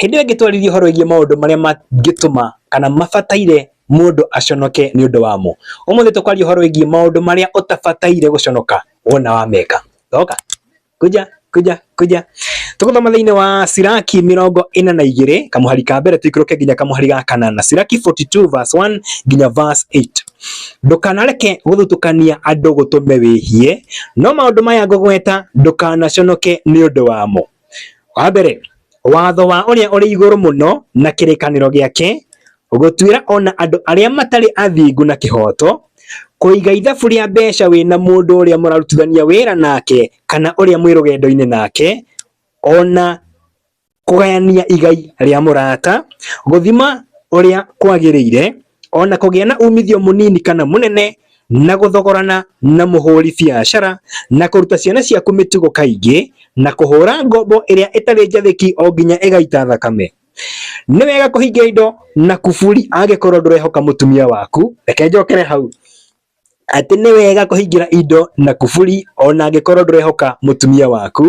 Hĩndĩ ĩyo ĩngĩtwarĩria ũhoro wĩgiĩ maũndũ marĩa mangĩtũma kana mabataire mũndũ aconoke nĩ ũndũ wamo. Ũmũthĩ tũkwaria ũhoro wĩgiĩ maũndũ marĩa ũtabataire gũconoka wona wameka. Oka, kuja, kuja, kuja. Tũgũthoma thĩinĩ wa Siraki mĩrongo ĩna na igĩrĩ, kamũhari ka mbere tũikũrũke nginya kamũhari ga kanana. Siraki 42 verse 1 nginya verse 8. Ndũkanareke gũthutũkania andũ gũtũme wĩhie, no maũndũ maya ngũgweta ndũkanaconoke nĩ ũndũ wamo. Wa mbere, watho wa ũrĩa ũrĩ igũrũ mũno na kĩrĩkanĩro gĩake gũtuĩra ona andũ arĩa matarĩ athingu na kĩhooto, kũiga ithabu rĩa mbeca wĩna mũndũ ũrĩa mũrarutithania wĩra nake kana ũrĩa mwĩ rũgendo-inĩ nake, ona kũgayania igai rĩa mũrata, gũthima ũrĩa kwagĩrĩire, o na kũgĩa na umithio mũnini kana mũnene, na gũthogorana na mũhũri biacara, na kũruta ciana ciaku mĩtugo kaingĩ, na kũhũũra ngombo ĩrĩa ĩtarĩ njathĩki o nginya ĩgaita thakame. Nĩ wega kũhingia indo na kuburi angĩkorũo ndũrehoka mũtumia waku. Reke njokere hau. atĩ nĩ wega kũhingĩra indo na kuburi ona angĩkorwo ndũrehoka mũtumia waku,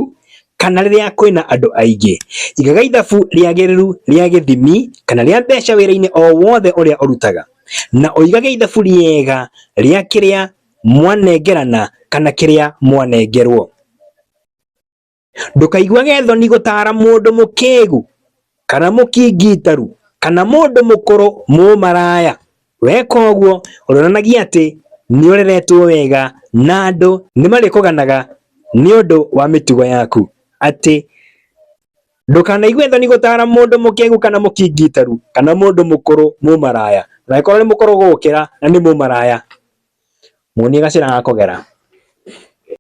kana rĩrĩa kwĩna andũ aingĩ. Igaga ithabu rĩagĩrĩru rĩa gĩthimi kana rĩa mbeca wĩra-inĩ o wothe ũrĩa ũrutaga, na ũigage ithabu rĩega rĩa kĩrĩa mwanengerana kana kĩrĩa mwanengerwo. Ndũkaiguage thoni gũtaara mũndũ mũkĩgu, kana mũkingitaru, kana mũndũ mũkũrũ mũmaraya. Weka ũguo, ũronanagia atĩ nĩ ũreretwo wega na andũ nĩ marĩkũganaga nĩ ũndũ wa mĩtugo yaku. Atĩ, ndũkanaigue thoni gũtaara mũndũ mũkĩgu kana mũkingitaru, kana mũndũ mũkũrũ mũmaraya. Na angĩkorwo nĩ mũkũrũ gũgũkĩra na nĩ mũmaraya, muonie gacĩra gakũgera.